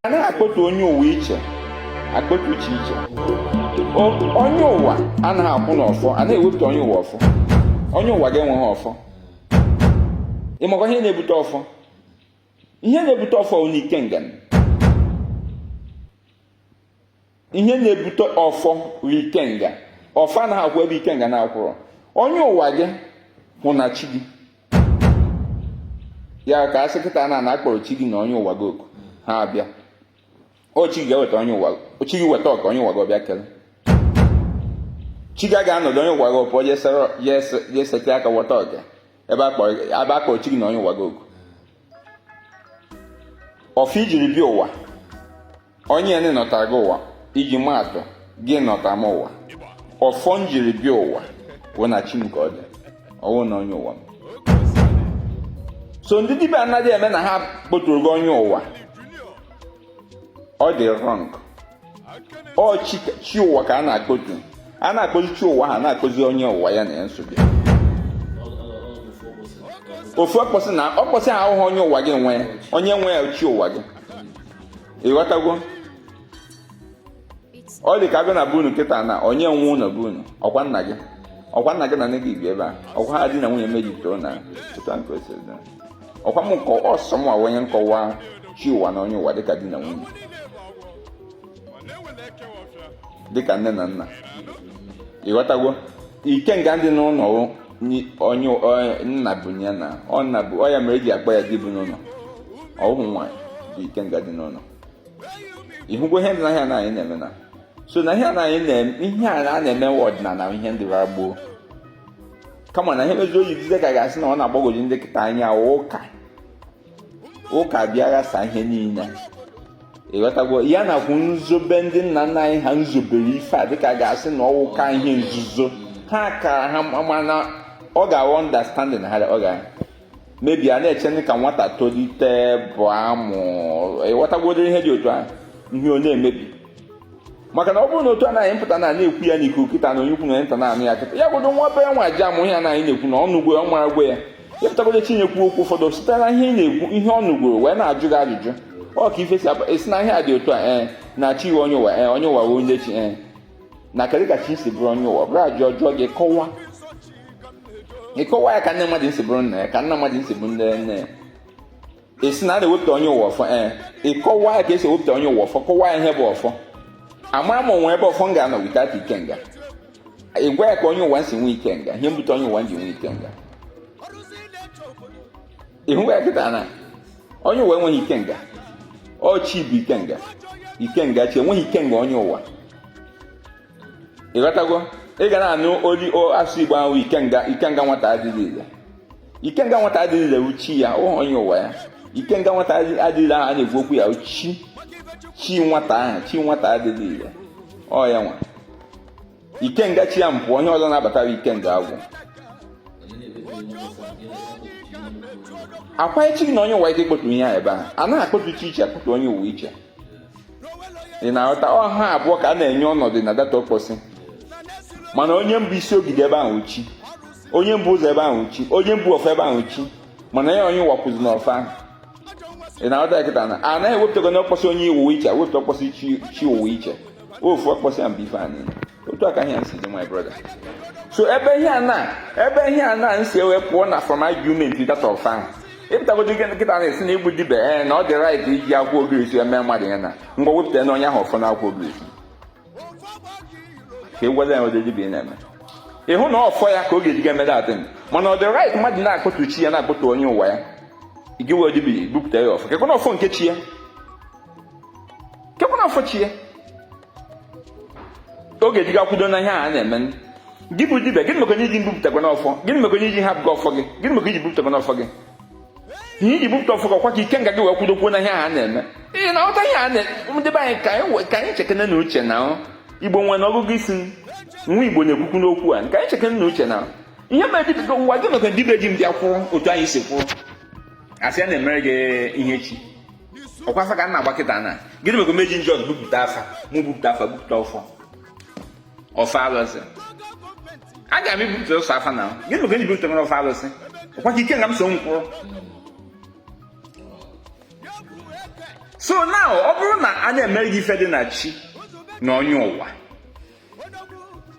anaghị akpọtu onye ụwa iche akpọtu chi iche onye ụwa anaghị akwụ n'ọfọ a na-ewepụta onye ụwa ọfọ onye ụwa ga-enweghị ọfọ ị makwa ihe na-ebute ọfọ ihe na-ebute ọfọ wụ ikenga ihe na-ebute ọfọ bụ ikenga ọfọ anaghị akwụ ebe ikenga na-akwụrọ onye ụwa gị hụ na chi gị ya ka a sị kịta na na a kpọrọ chi gị na onye ụwa gị oku ha abịa ọ chi gị weta onye ụwa ọ chi gị weta oke onye ụwa gị ọ bịa kele chi gị ga-anọdụ onye ụwa gị ọ pụọ je esete aka weta oke ebe a kpọrọ chi gị na onye ụwa gị oku ọfọ i jiri bịa ụwa onye nị nọta gị ụwa iji maa atụ gị nọta m ụwa ọfọ m jiri bịa ụwa wụ na chi m ka ọ dị ọ wụ na onye ụwa m so ndị dibịa anaghị eme na ha kpọturu gị onye ụwa ọ dị wrong ọ chi ụwa ka a na-akpọtu a na-akpọzi chi ụwa ha na-akpọzi onye ụwa ya na ya nso bụ ofu ọkpọsị na ọkpọsị ha ahụhụ onye ụwa gị nwe ya onye nwe ya chi ụwa gị ị ghọtagwo ọ dị ka a bịa na be unu kịta na onye nwe ụlọ be unu ọkwa nna gị ọkwa nna gị na nne gị bi ebe a ọkwa ha di na nwunye mejupụtara na ụtọ nke osiri ọkwa m nkọwa ọsọ m onye nkọwa chi ụwa na onye ụwa dịka di na nwunye dịka nne na nna ị ghọtago ikenga dị n'ụlọ onye nna bụ ya na ọ nna bụ ọ ya mere e ji akpọ ya di bi n'ụlọ ọhụụ nwaanyị bụ ikenga dị n'ụlọ ị hụgo ihe ndị ahụ na anyị na-eme na so na ihe a na-eme ọdịnala ihe ndị gboo kama na ihe mezi o ji dịzie ka a ga-asị na ọ na-agbagwoju ndị kịta anya wụ ka ụka bịa ghasa ihe niile ị ghọtagwo ya nakwu nzobe ndị nna nna anyị ha nzobere ife a dịka a ga-asị na ọ wụ ka ihe nzuzo ha kara ha mana ọ gawa understanding ha ọ ga mebi a na-eche ndị ka nwata tolite bụ amụ ị ghọtagworo ihe dị otu ahụ ihe ọ na-emebi maka na ọ bụrụ na otu anyị pụta na na-ekwu ya n'ikuku kịta na onye ukwu na nta na-anụ ya kịta ya godo nwa obere nwa ji amụ ihe anyị na-ekwu na ọ nụgwo ọ maragwo ya ya pụtagodo tinyekwu okwu ụfọdụ site na ihe ị na-ekwu ihe ọ nụgoro wee na-ajụ gị ajụjụ ọ ka ife si esi na ihe a dị otu a ee eh, na chi onye ụwa ee eh, onye ụwa onye chi ee eh. na kedu ka chi si bụrụ onye ụwa bụrụ a jụọ ọ jụọ gị kọwa ị kọwa ya ka nne mmadụ si bụrụ nna ya ka nna mmadụ si bụ nne nne ya ị sị na a na-ewepụta onye ụwa ọfọ ee ị kọwa ya ka e si ewepụta onye ụwa ọfọ kọwa ya ihe bụ ọfọ ama m o nwe ebe ọfọ m ga-anọ without ikenga ị gwa ya ka onye ụwa si nwee ikenga ihe mbute onye ụwa ji nwee ikenga ị hụwa ya kịta na onye ụwa enweghị ikenga ọ chi bụ ikenga ikenga chi enweghị ikenga onye ụwa ị ghọtago ị ga na-anụ olu asụ igbo ahụ ikenga ikenga nwata adịghị ile ikenga nwata adịghị ile ọ chi ya ọhọ onye ụwa ya ikenga nwata adịghị ile ahụ a na-ekwu okwu ya ọ chi chi nwata ahụ chi nwata adịghị ile ọ ya nwe ikenga chi ya mpụ onye ọzọ na-abatara ikenga agwụ ọkwa chi na onye ụwa ike kpọtu ihe a ebe a a naghị akpọtu chi iche akpọtu onye ụwa iche ị na-aghọta ọ ha abụọ ka a na-enye ọnọdụ na that okposi mana onye mbụ isi ogige ebe ahụ chi onye mbu ụzọ ebe ahụ chi onye mbu ọfọ ebe ahụ chi mana ya onye ụwa kwụzi n'ọfọ ahụ ị na-aghọta kịta na a naghị ewepụtago na ọkpọsị onye ụwa iche wepụta ọkpọsị chi ụwa iche ofu ọkpọsị ya mba ife anyị otu aka ihe nsi dị my brother so ebe ihe a na ebe ihe a na nsi ewe pụọ na from argument that ọfọ ahụ ị pụtagodo kịta na-asị na ị bụ dibịa ee eh, na ọ dị right iji akwụkwọ ogirisi eme mmadụ ya na ngwa wepụta na onye ahụ ọfọ na akwụkwọ ogirisi ka egwuele ya ụdị dibịa na-eme ị hụ na ọfọ ya ka ọ ga-eji ga eme that thing mana ọ dị right mmadụ na-akpọtu chi ya na-akpọtu onye ụwa ya gị bụ dibịa bupụta ya ọfọ kekwanụ ọfọ nke chi ya kekwanụ ọfọ chi ya ọ ga-eji ga kwudo na ihe a na-eme gị bụ dibịa gịnị maka onye ji mbupụtakwanụ ọfọ gịnị maka onye ji hapụ gị ọfọ gị gịnị maka i ji bupụtakwanụ ọfọ gị ihe i ji bupụta ọfọ gị ọkwa ka ikenga gị wee kwudokwuo na ihe a na-eme ị na-aghọta ihe a na-eme be anyị ka anyị chekene na uche na igbo nwere ọgụgụ isi nwa igbo na-ekwukwu n'okwu a ka anyị chekene na uche na ihe mere dibịa ụwa gị maka dibịa ji mbịa kwụrụ otu anyị si kwụrụ a sị a na-emere gị ihe chi ọkwa afa ka a na-agba kịta na gịnị maka meji njọ bupụta afa ma bupụta afa bupụta ọfọ ọfọ alụsị aga m ebupụta sọ afa na gịnị maka ibupụta nwere ọfọ alụsị ọkwa ka ikenga m so nkwụrụ so now ọ bụrụ na a na-emere gị ife dị na chi na onye ụwa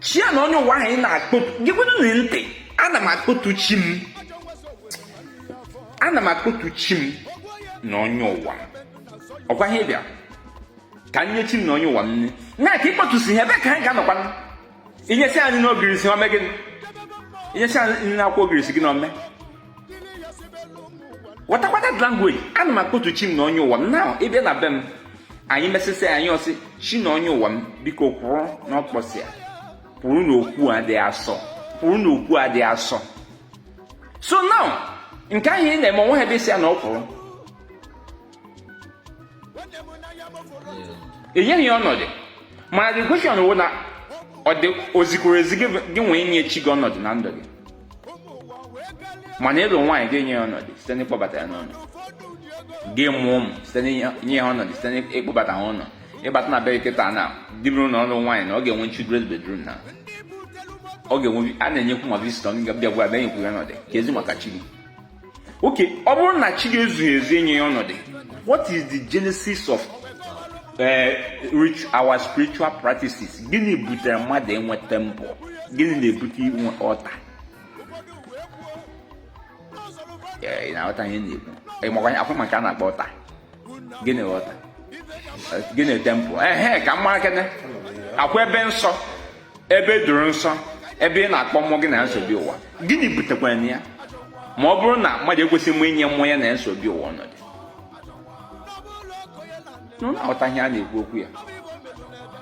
chi a na onye ụwa ahụ ị na-akpọtu gekwanụ ntị ana m akpọtu chi m ana m akpọtu chi m na onye ụwa ọkwa ihe bịa ka nye chi na onye ụwa m na ka ị kpọtụsi ihe ebee ka anyị ga-anọkwa i nyesi anyị n'ogirisi o me gịnị i nyesi anyị nri akwụkwọ ogirisi gị na ome watakwata language ana m akpọtu chi m na onye ụwa m na ị bịa na be m anyị mesịsị anyị asị chi na onye ụwa m biko kwụrụ n'ọkpọsị a kwụrụ n'okwu a dị asọ kwụrụ n'okwu a dị asọ so now nke ahụ ị na-eme o nweha ebe ị sị ya na ọ kwụrụ enyeghị ya ọnọdụ mana the question wụ na ọ dị o zikwuru ezi gị nwee nye chi gị ọnọdụ na ndụ gị mana ị lụ nwaanyị ga-enye ya ọnọdụ site n'ịkpọbata ya n'ụlọ gị mụọ ụmụ site n'inye ha ọnọdụ site n'ịkpọbata ha ụlọ ị bata na be kịta na di bụrụ na ọ nụ nwaanyị na ọ ga-enwe children's bedroom na ọ ga-enwe a na-enyekwu ma visitor ndị ọbịa ga-abịa nyekwu ya ọnọdụ keezi maka chi gị okay ọ bụrụ na chi gị ezughị ezu e nye ya ọnọdụ what is the genesis of eh, our spiritual practices gịnị butere mmadụ inwe temple gịnị na-ebute inwe altar eh, na-aghọta ihe m na-ekwu akwụ maka a na-akpọ altar gịnị altar gịnị temple ehe ka m mara kene ọ kwa ebe nsọ ebe e doro nsọ ebe ị na-akpọ mmụọ gị na ya so bịa ụwa gịnị butekwara ya ma ọ bụrụ na mmadụ ekwesịghị inye mmụọ ya na ya so bịa ụwa ọnọdụ unu aghọta ihe a na-ekwu okwu ya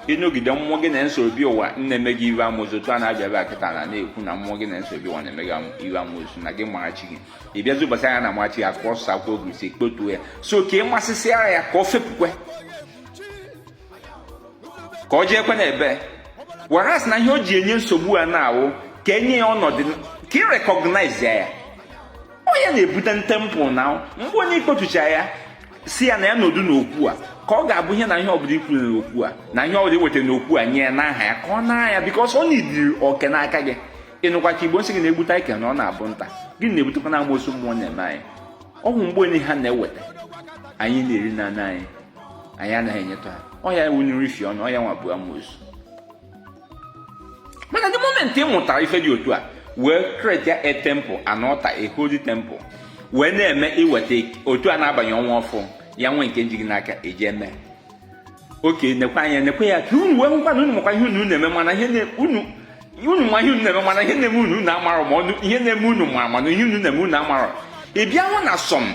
ị nọgide mmụọ gị na ya so bịa ụwa na-eme gị ihe amoosu otu a na-abịa ebe a kịta na na-ekwu na mmụọ gị na ya so bịa ụwa na-eme gị ihe amoosu na gị mara chi gị ị bịazi ụbọchị anya na mara chi ya ka ọ sa akwụkwọ ogirisi kpotuo ya so ka ị mesịsịara ya ka ọ fepụkwe ka ọ jeekwa na ebe whereas na ihe o ji enye nsogbu a na-awụ ka e nye ya ọnọdụ ka ị recognize ya ọ ya na-ebute temple na mgbe onye i kpotucha ya sị ya na ya nọdụ n'okwu a ka ọ ga-abụ ihe na ihe ọbụla i kwuru n'okwu a na ihe ọbụla i wetara n'okwu a nye ya n'aha ya ka ọ na ya because ọ na-eriri oke n'aka gị ị nụkwa ka igbo sị gị na e gbute e kee na ọ na-abụ nta gịnị na-ebutekwanụ amoosu mmụọ na-eme anyị ọ wụ mgbe onye ha na-eweta anyị na-eri na anyị anyị anaghị enyetụ ha ọ ya wụ nri fi ọnụ ọ ya nwa bụ amoosu mana the moment ị mụtara ife dị otu a wee create a temple an altar a holy temple wee na-eme i weta otu a na-abanye ọnwa ọfụ ya nwee nke njighị n'aka eji eme okay nekwa anya nekwa ya ka unu wee hụkwa na unu makwa ihe unu na-eme mana ihe unu unu ma ihe unu na-eme mana ihe na-eme unu amarọ ma ọ wụ ihe na-eme unu ma mana ihe unu na-eme unu amarọ ị bịa hụ na some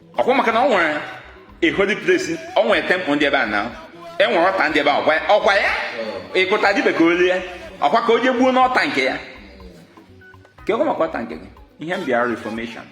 ọkwa maka na ọ nwere a holy place ọ nwere temple ndị ebe a na e nwere altar ndị ebe a ọkwa ya ị kụta dibịa ka o lie ọkwa ka o jee gbuo n'altar nke ya keekwa maka altar nke gị ihe m bịara reformation